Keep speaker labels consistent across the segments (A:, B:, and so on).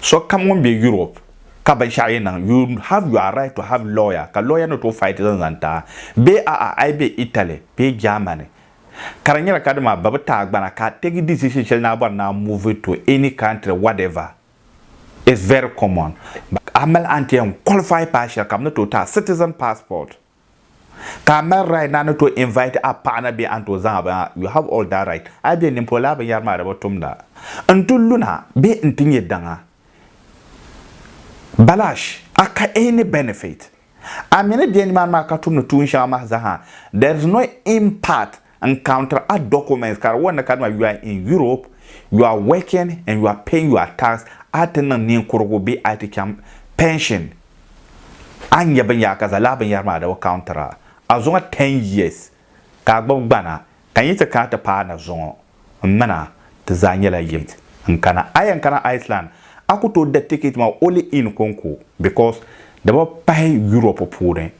A: Sokam ŋun be Europe ka binshɛɣu yi niŋ, you have your right to have lawyer ka lawyer ni tooi fight zaŋ zaŋ ti a. Bee a'a a yi be Italy bee Germany ka di nyɛla ka di maa babi ti a gbana ka a tegi decision shɛli ni a bɔri ni a move to any country whatever is very common. A mali anti yɛn qualify paai shɛli ka bɛ ni tooi ti a citizen passport. Ka a mali right na ni to invite a paɣa na bee a ni to zaŋ a bini a, you have all that right. A yi be nin polo a binyɛri maa di bi tumda. N ti luna bee n ti nyɛ daŋa. Balash, a ka any benefit. A mi ni be nimaani maa ka tumdi tuun shɛŋa mahi zaha, there is no impact Encounter a document ka di wuhi ni kadama you are in Europe, you are working and you are paying your tax, a ti niŋ ninkurigu bee a ti chaŋ pension, a ni nya binyɛra ka zalaa binyɛra maa di bi counter a. A zuŋɔ ten years ka a gbubi gbana ka n yi ti kana ti paai na zuŋɔ m min a ti zaa nyɛla yinsi n kana. A yɛn kana Iceland a ku tooi da ticket maa only in Konko because di bi pahi Europe puuni,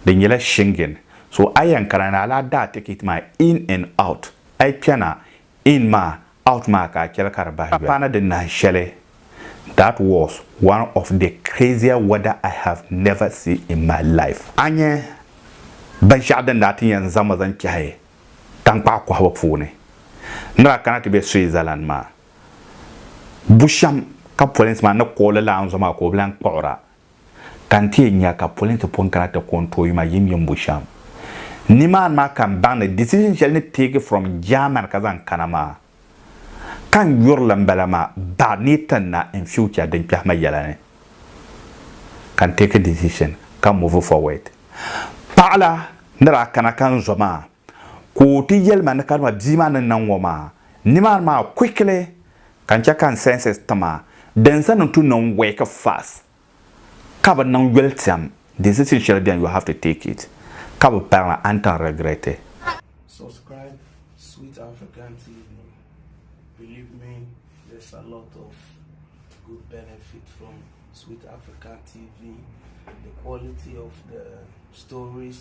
A: di nyɛla Shingen. So a yɛn kana ni a lahi daai ticket maa in and out. A yi kpɛna in maa out maa ka a chɛli ka di bahi yoli. Paana di nahin shɛli That was one of the crazier weather I have never seen in my life. A nya binshɛɣu din daa ti yɛn zaŋ ma zaŋ kpɛhi tankpaɣu kɔhibu puuni ni daa kana ti be Switzerland maa. Bushɛm ka polinsi maa ni koogi lala anzɔ maa ka o bi lan kpuɣira. ka n ti yɛn nya ka pɔli ni ti pɔ n-kana ti ko n-tooi yuma yim yimbu shɛm. Nimaani maa ka n baŋ ni decision shɛli ni teegi from Germany ka zaŋ kana maa, ka n yuri li m-bala maa baɣa ni yi ti na in future din kpɛhi ma yɛla ni, ka n teeki decision ka move forward. Paɣila ni daa kana ka n zo maa, Ka o ti yɛli ma ni kadama bia maa ni niŋ ŋɔ maa, nimaani maa quickly ka n chɛ ka n senses ti ma din zani n tu niŋ work fast ka bi niŋ yolitiɛm decision shɛli beni you have to take it ka bi pari li a ni tan regret it. Subscribe
B: Sweet African TV believe me there's a lot of good benefit from Sweet African TV the quality of the stories.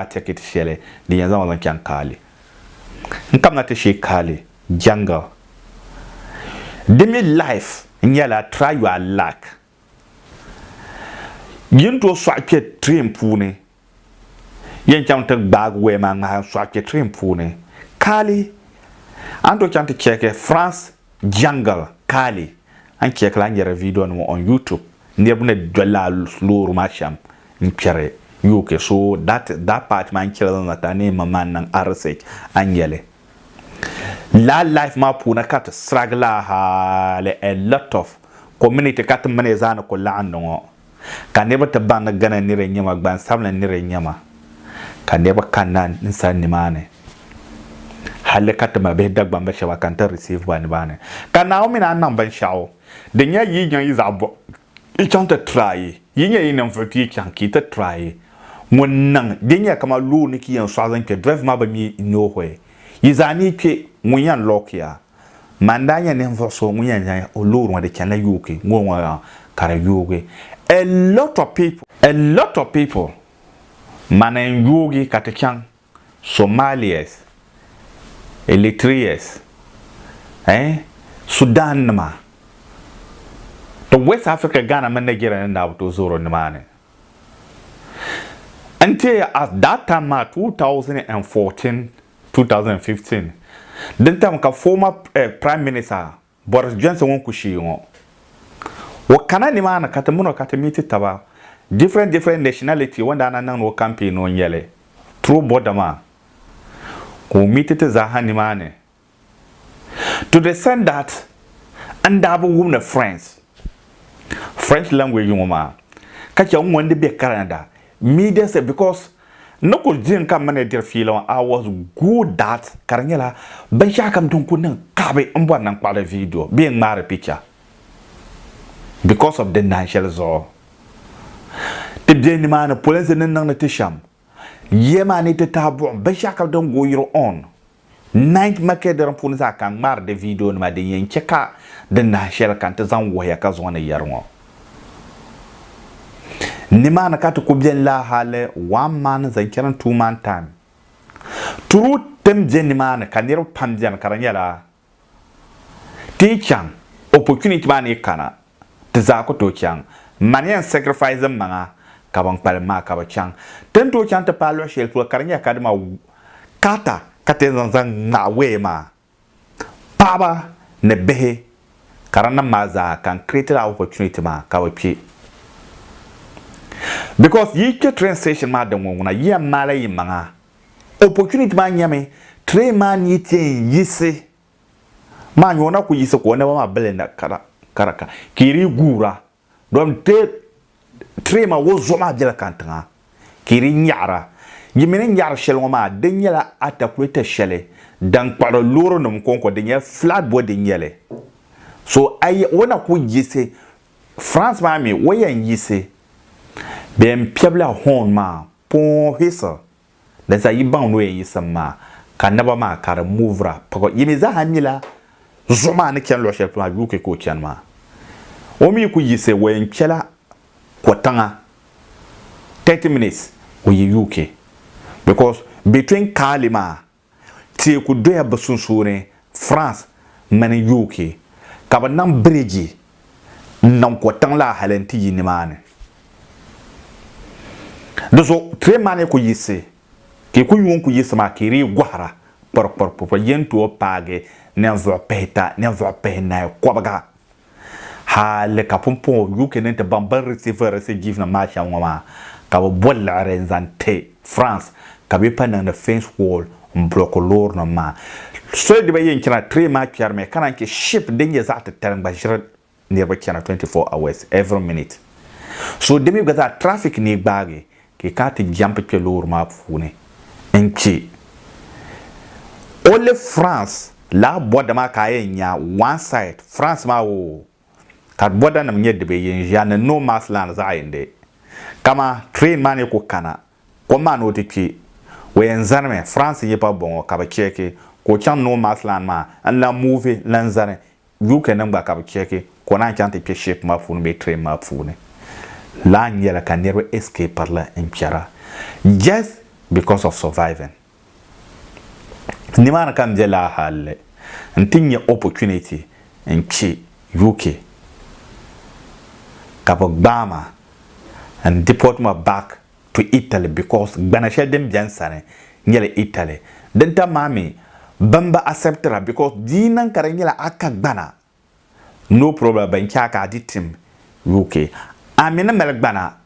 A: maa tɛkit shɛli din yɛn zaŋ o zaŋ chaŋ Kaali. N kamina ti shee Kaali Jungle. Di mi life nyɛla try your luck. Yi ni tooi sɔɣi kpɛ train puuni Yen chaŋ ti gbaagi waya maa ŋmahi n soɣi chɛ train puuni. Kaali! A ni tooi chaŋ ti chɛki France jungle kaali. A ni chɛkila a ni nyari video nima on YouTube niriba ni dolila a loori maa shem n kperi UK so that that part maa n chɛli zaŋ na ti a ni yɛn ma maa niŋ a research a ni nyɛli. Lala life maa puuni ka ti siragi la hali a lot of community ka ti mi ni zaa ni ku laɣindi ŋɔ. Ka niriba ti baŋ ni Ghana nira n-nyɛ ma, gbansabinli nira n-nyɛ ma, ka niriba kanna n sani nimaani halli ka ti mabihi Dagbamba shɛba ka n-ti receive ba nimaani. Ka Naawuni mi ni a niŋ binshɛɣu din nyɛ yi nya yi zaɣ bɔb yi chaŋ ti try, yi nya yi ninvuɣ ti yi chaŋ ka yi ti try ŋun niŋ din nyɛ kaman loori ni ka yi yɛn sɔɣi zaŋ kpe driver maa bi mi n-nyoohoi yi zaa ni yi kpe ŋun yɛn lock ya. Man daa nya ninvuɣ so ŋun yɛn zaŋ o loori ŋɔ di chanila yooki ŋɔ ŋɔ yaŋ ka di yoogi a lot of people a lot of people man n yoogi ka ti chaŋ Somalias, Eritreas eh Sudan nima to West Africa Ghana mini Nigeria ni daa bi tooi zoori nimaani n-ti at that time maa 2014 2015 din tam ka former Prime Minister Boris Johnson ŋun ku shii ŋɔ o kana nimaani ka ti mini o ka ti meeti taba different different nationality o ni daa na niŋdi o campaign o nyɛli through border maa ka o meeti ti zaaha nimaani to the extent that n daa bi wum ni French French language ŋɔ maa ka che n ŋun di be Canada media say because n ni kuli diri ka mini diri fiila ŋɔ I was good that ka di nyɛla binshɛɣu kam din kuli niŋ kaɣibi n bɔri ni n kpaɣili video bee n ŋmaari picture because of di naan shɛli zuɣu ti be nimaani polinsi ni niŋdi ti shɛm yiya maa ni ti taai buɣim binshɛɣu kam din go yiri on Night Market di din puuni zaa ka n ŋmaari di vidio nima din yɛn chɛ ka di nahi shɛli ka n ti zaŋ wuhiya ka zuŋɔ ni yɛri ŋɔ. Nimaani ka ti ku beni laa hali one man zaŋ chani two man time. True ti ni be nimaani ka niriba pam beni ka di nyɛla ti yi chaŋ opportunity maa ni yi kana ti zaa ku tooi chaŋ. M ma ni yɛn sacrifice m maŋa ka ban kpalim maa ka bɛ chaŋ. Ti ni tooi chaŋ ti paai luɣ shɛli polo ka di nyɛla Kadima Carter ka ti yɛn zaŋ zaŋ ŋmahi waya maa. Paɣiba ni bihi ka di niŋ maa zaa ka n create la opportunity maa ka bɛ kpe. Because yi kpe train station maa din ŋɔŋuna yi yɛn maai la yi maŋa. Opportunity maa nyɛmi train maa ni yi ti yɛn yiɣisi maa nyɔ na ku yiɣisi ka o naba maa bili na kara kara ka ka i di guura dɔn te tiri ma o zuɣu maa bela kan tiŋa ka i di nyaɣira. Yi mi ni nyaɣiri shɛli ŋɔ maa di nyɛla atakuleta shɛli din kpuɣiri loorinim kɔŋko din nyɛ flat body n-nyɛ li. So a yi o na ku yiɣisi France maa mi o yɛn yiɣisi bee m-piɛbila horn maa pɔɔhisa Di za yi baŋ ni o yɛn yiɣisim maa, ka naba maa ka di movira pag. Yi mi zaaha nyila zuɣu maa ni chani luɣ shɛli polo maa, UK ka o chani maa. O mi ku yiɣisi, o yɛn kpɛla Kɔtiŋa, 30 minutes o yi UK because between Kaali maa Teeku doya bɛ sunsuuni France mini UK ka bɛ niŋ biriji n-niŋ ko tiŋ la hali n-ti yi nimaani. Di zuɣu train maa ni ku yiɣisi ka yi ku yuun ku yiɣisi maa ka yi dii gɔhira kpɔrikpɔrikpɔrikpɔri yɛn tooi paagi ninvuɣ pihita ninvuɣ pihinahi kɔbiga. Hali ka pumpɔŋɔ UK ni ti baŋ bɛ ni receive refugeesinima maa shɛm ŋɔ maa, ka bɛ bo liɣiri n-zaŋ ti France ka bɛ pa niŋdi fence wall m-block loorinima maa. Soli di bɛ yɛn chana train maa kpɛrimi ka naan che ship din nyɛ zaɣ titali n-gba ʒiri niriba chana 24 hours every minute. So di mi gba zaa traffic ni gbaagi Kpɛ ka a ti jɛmp kpɛ loori maa puuni n-che o li France laa bɔda maa ka a yɛn nya one side France maa oo ka bɔdanim nyɛ di be yin ʒiya ni no man's land zaɣ yindi. Kaman train maa ni ku kana kom maa ni o ti kpe o yɛn zanimi France n-yi pa bɔŋɔ ka bɛ cheeki ka o chaŋ no man's land maa n-lan move n-lan zani UK nim gba ka bi chɛki ka o naan chaŋ ti kpɛ ship maa puuni bee train maa puuni laa nyɛla ka niriba escaper li n kpɛra just because of surviving. Nimaani ka n be laa halli n ti nyɛ opportunity n kpɛ UK ka bi gbaai ma n deport ma back to Italy because gbana shɛli din bɛni sani nyɛla Italy. Din tam maa mi bɛn bi acceptira because di yi niŋ ka di nyɛla a ka gbana no problem bɛn che a ka a di tim UK. A mi ni mali gbana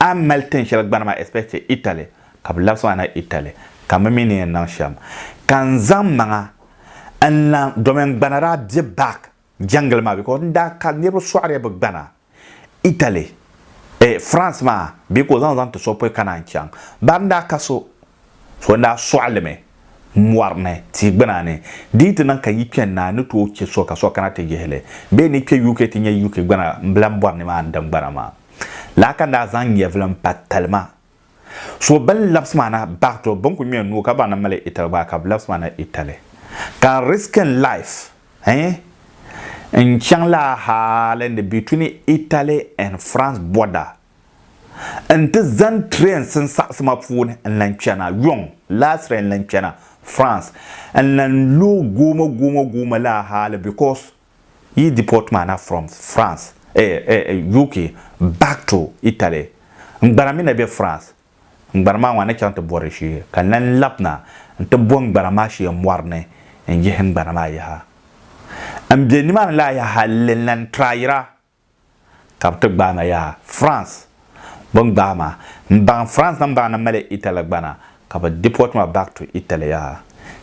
A: a ni mali tin shɛli gbana maa especially Italy ka bɛ labisi ma na Italy ka mi mi ni yɛn niŋ shɛm ka n zaŋ maŋa n lan domin gbana daa be back. jɛngili maa because n daa ka niriba sɔɣiriya bi gbana Italy eh France maa bee ka o zaŋ zaŋ ti so pɔi ka naan chaŋ bari n daa ka so so n daa sɔɣilimi mɔri ni tia gbuna ni di yi ti niŋ ka yi kpɛ n na ni tooi chɛ so ka so kana ti yihili bee ni kpɛ UK ti nyɛ UK gbana n bilan bɔri ni maa n din gbana maa lala ka n daa zaŋ nyɛvili n pa talima So bɛ ni labisi maa na baɣi ti o, bɛ ni kul ŋme o nuu ka baŋ ni mali Italy gba ka bɛ labisi maa na Italy. Ka n risk n life eh n chaŋ la hali ni between Italy and France border n ti zani train sinsaɣisi ma puuni n lan kpɛna yɔŋ last train n lan kpɛna France n lan lo goomo goomo goomo la hali because Yi deport ma na from France eh eh UK back to Italy. N gbana mi na be France. N gbana maa ŋɔ a ni chaŋ ti bɔri shee ka n lan lab na nti bo n gbana maa shee mɔri ni n yihi n gbana maa yaha. N be nimaani la yaha hali n lan try yira ka bɛ ti gbaai ma yaa France bɛ ni gbaai ma m baŋ France na m baŋ ni mali Italy gba na ka bɛ deport ma back to Italy yaa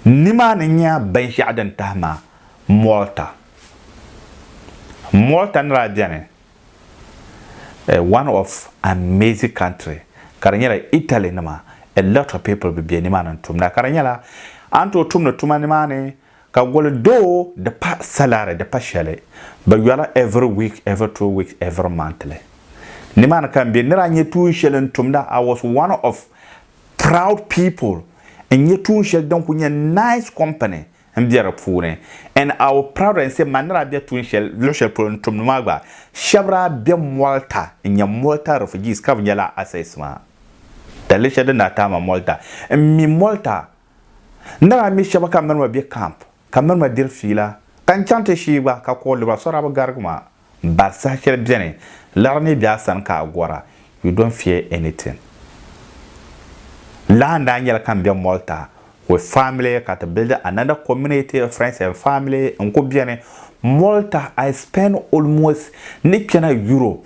A: nimaani nya binshɛɣu din tahi ma Malta Malta ni daa beni eh one of amazing country ka di nyɛla Italy nima a lot of people bɛ be nimaani n tumda ka di nyɛla a ni tooi tumdi tuma nimaani Ka goli doo di pa salary di pa shɛli bɛ yɔra every week every two weeks every monthly ni maa ni ka n be nira nyɛ tuun shɛli n tumda I was one of proud people n nyɛ tuun shɛli din kuli nyɛ nice company n be di puuni and I will proud and say ma nira be tuun shɛli luɣi shɛli polo n tumdi maa gba shɛbi daa be Malta n nyɛ Malta refugees ka bi nyɛla access maa dalili shɛli din daa taai ma Malta n mi Malta N daa mi shɛba ka miri ma be kamp ka miri ma diri fiila ka n chaŋ ti shii gba ka kɔhi lura so daa bi garigi ma m-bari saha shɛli beni liɣiri ni be a sani ka a gɔra you don't fear anything. Lala n daa nyɛla ka m be Malta with family ka ti build another community of friends and family n kuli beni Malta I spend almost ni kpɛna Europe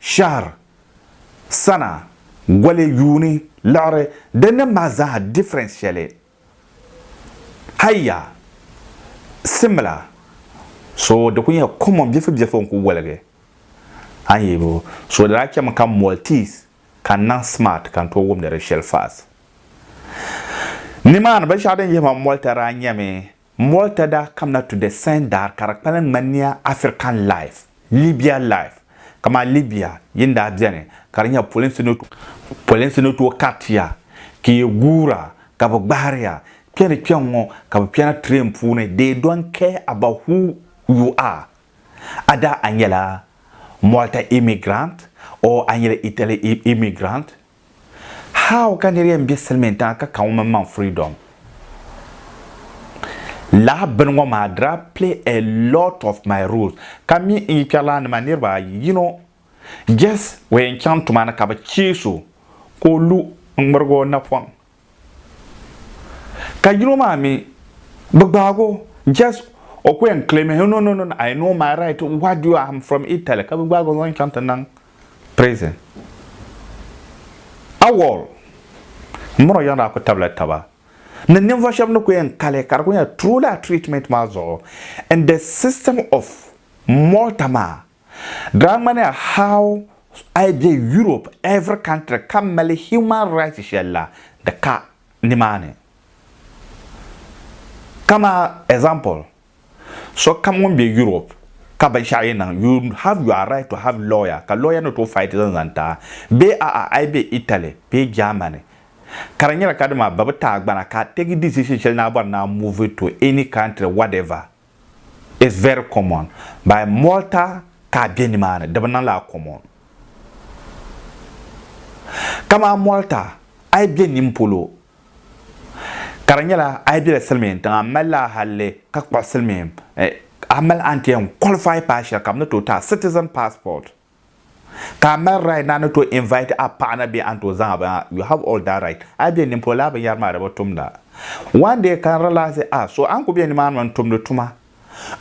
A: shahr, sana, goli, yuuni, liɣiri, di nim maa zaaha difference shɛli, hayya, similar, so di kuli nyɛla common bilifu bilifu n kuli woligi a ni yuli so di daa chɛmi ka multis ka n niŋ smart ka n tooi wumdi di shɛli fast. Nimaani binshɛɣu din yihi ma molta daa nyɛmi Mɔlta daa kamina to the sand daar ka di kpalim ŋmani niya African life, Libya life, kamani Libya yi ni daa beni ka di nyɛla polinsi ni tooi kariti ya ka yi guura ka bɛ gbahiri ya kpe ni kpe ŋ-ŋɔ ka bɛ kpɛna train puuni they don't care about who you are a daa a nyɛla Mɔlta immigrant or a nyɛla Italy immigrant How ka niri yɛn be silimiin tiŋa ka ka ŋun mini maŋ freedom? Lala bini ŋɔ maa dira play a lot of my roles ka mi n yi kpɛrilana nima niriba ayi yino just o yɛn chaŋ tuma ni ka bi chees o ka o lu n ŋmirigi o napɔŋ Ka yino maa mi bi gbaag o just o ku yɛn claim no no no I know my right what do you am from Italy ka bi gbaag o zaŋ chaŋ ti niŋ prison awɔl m mini o yiɣi daa ku tabila taba ni ninvuɣu shɛba ni ku yɛn kali ka di ku nyɛ true laa treatment maa zuɣu in the system of Malta maa. Daa ŋmani a how a yi be Europe every country ka mali human rights shɛli la di ka nimaani. Kama example, sokam ŋun be Europe ka binshɛɣu yi niŋ you have your right to have lawyer ka lawyer ni tooi fight zaŋ zaŋ ti a. Bee a'a a yi be Italy bee Germany ka di nyɛla ka dama bɛ bi ti a gbana ka a take decision shɛli ni a bɔri ni a move to any country whatever. It's very common by Malta ka a be nimaani di bi niŋ laa common. Kaman Malta a yi be nin polo ka di nyɛla a yi bela silimiin tiŋa m mali laa halli ka kpuɣi silimiin a mali a ni ti yɛn qualify paai shɛli ka bɛ ni tooi ti a citizen passport. Ka a mali right ni a ni tooi invite a paɣa na bee a ni tooi zaŋ a binyɛra, you have all that right. A yi be nimpolo lala binyɛra maa di bi tumda. One day ka n realize ah so a ni kuli be nimaani maa n-tumdi tuma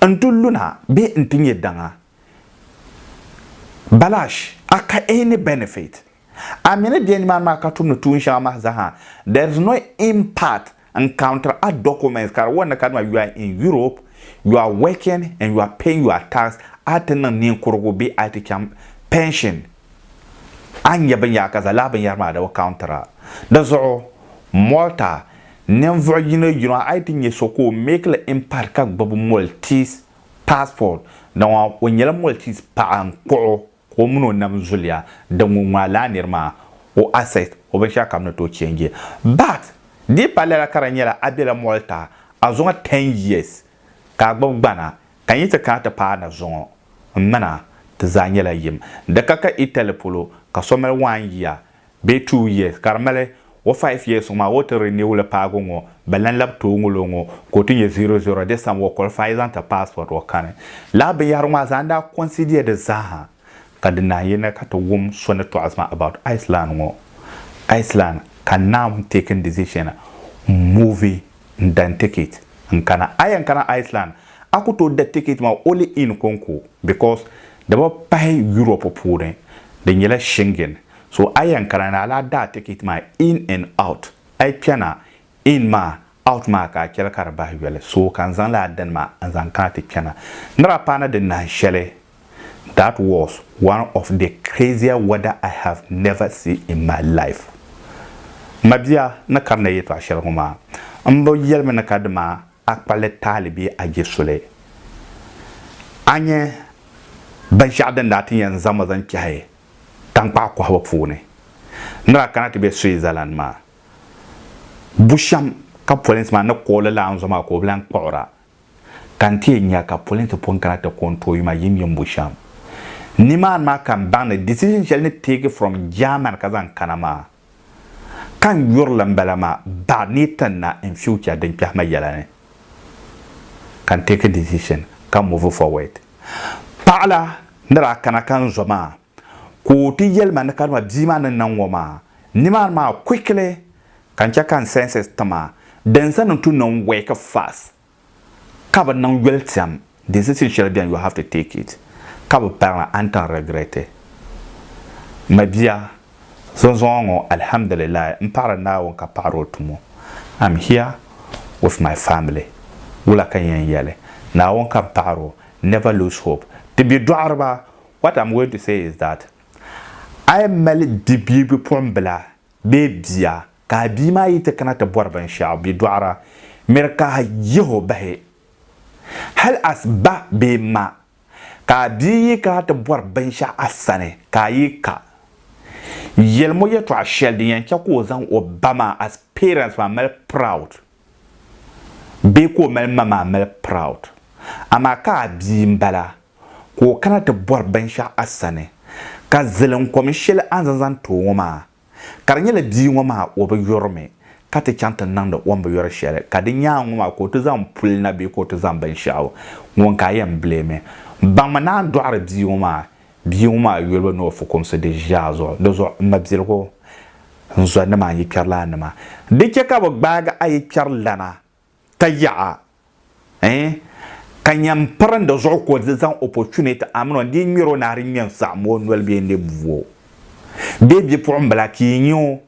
A: n-ti luna bee n-ti nyɛ daŋa. Balash, a ka any benefit? A mi ni bɛ nimaani maa ka tumdi tuun shɛŋa mahi zaha. There is no impact in counter a documents ka di wari ni kadama you are in Europe, you are working and you are paying your tax, a ti niŋ ninkurugu bee a ti chaŋ pension, a ni nya binyɛra ka za lala binyɛra maa di bi counter a. Di zuɣu Malta ninvuɣ yino yino a yi ti nya so ka o make li impact ka gbibi Maltese passport, di ŋɔ o nyɛla Maltese paɣa n-kpuɣ o. ka o mini o nam zuliya di ŋun ŋmaa laa niri maa o asset o binshɛɣu kam ni tooi change but di palli la ka di nyɛla a bela mɔɣili ta a zuŋɔ ten years ka a gbubi gbana ka n yi ti kana ti paai na zuŋɔ m mina ti zaa nyɛla yim di ka ka Italy polo ka so mali one year bee two years ka di mali o five years ŋɔ maa o ti renew li paago ŋɔ bɛ lan labi tooi ŋul o ŋɔ ka o ti nyɛ zero zero this time o qualify zaŋ ti passport o kani. Lala binyɛhiri ŋɔ a zaa n daa consider di zaaha ka di naan yi na ka ti wum so ni tɔɣisi ma about Iceland ŋɔ Iceland ka n naan take n decision n move N da n ticket n kana. A yɛn kana Iceland a ku tooi da ticket maa only in Konko because di bi pahi Europe puuni, di nyɛla Shingen. So a yɛn kana ni a lahi da a ticket maa in and out. A yi kpɛna in maa out maa ka a chɛli ka di bahi yoli. So ka n zaŋ lala dini maa n zaŋ kana ti kpɛna. Nira paana di nahin shɛli That was one of the crazier weather I have never seen in my life. M ma bia ni kari na yɛtɔɣ shɛli ŋɔ maa, m bi yɛli mi ni ka dima a kpa li taali bee a je soli. A nya binshɛɣu din daa ti yɛn zaŋ ma zaŋ kpɛhi taŋkpaɣu kɔhibu puuni ni daa kana ti be Switzerland maa. Bushɛm ka polinsi maa ni kooli laanzɔ maa ka o bi lan kpuɣira ka n ti yɛn nya ka pɔli ni ti pun kana ti ko n tooi yuma yim yimbu shɛm. Nimaani maa ka n baŋ ni decision shɛli ni teegi from German ka zaŋ kana maa, ka n yuri li m-bala maa baɣa ni yi ti na in future din kpɛhi ma yɛla ni, ka n teeki decision ka move forward. Paɣila ni daa kana ka n zo maa, Ka o ti yɛli ma ni kadama bia maa ni niŋ ŋɔ maa, nimaani maa quickly ka n chɛ ka n senses ti ma din zani n tu niŋ work fast ka bi niŋ yoli tiɛm decision shɛli beni you have to take it ka bi pari li a ni tan regret. Ma bia, zunzuŋɔ ŋɔ Alhamdulillahi n paɣiri Naawuni ka paɣiri o tumo. I'm here with my family. Wula ka n yɛn yɛli? Naawuni ka n paɣiri o, never lose hope. Ti bidɔɣiriba what am going to say is that a yi mali bi bia bipuɣimbila bee bia ka a bia maa yi ti kana ti bɔri binshɛɣu bɛ dɔɣira, miri ka a yihi o bahi. Hal as ba bee ma ka a bia yi kana ti bɔri binshɛɣu a sani ka a yi ka, yɛlim o yɛtɔɣ shɛli din yɛn chɛ ka o zaŋ o ba maa as parents maa mali proud bee ka o mali ma maa mali proud. Amaa ka a bia m-bala ka o kana ti bɔri binshɛɣu a sani, ka zilinkom shɛli a ni zaŋ zaŋ ti o ŋɔ maa, ka di nyɛla bia ŋɔ maa o bi yuri mi, ka ti chaŋ ti niŋdi o ni bi yuri shɛli, ka di nyaaŋa ŋɔ maa ka o ti zaŋ puli na bee ka o ti zaŋ binshɛɣu, ŋun ka a yɛn bileemi. Baŋmi ni a ni dɔɣiri bia ŋɔ maa, bia ŋɔ maa yolibu ni o fukumsi di zaa zuɣu. Di zuɣu, m mabiligu, n zɔnnima n yikpɛrilannima, di chɛ ka bɛ gbaagi a yikpɛrilana Ka yaɣa eh ka nyɛm pirindi zuɣu ka o di zaŋ opportunity amini o dii ŋmɛr o nahi di ŋmɛn saɣim o noli bee n-lee bu o bee bipuɣimbila ka yi nya o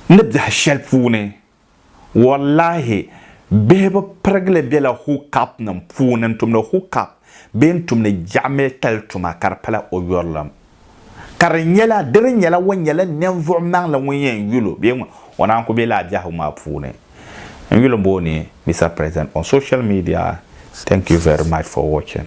A: ni biɛhi shɛli puuni. Wallahi bihi bi pirigili bela hook-upnim puuni n-tumdi hook-up bee n-tumdi jɛɣimilikali tuma ka di pala o yurilim. ka di nyɛla di di nyɛla o nyɛla ninvuɣ maŋli ŋun yɛn yuli o bee ŋun o naan ku be lala biɛhigu maa puuni n-yuli m-bo o ni Mister President on social media thank you very much for watching.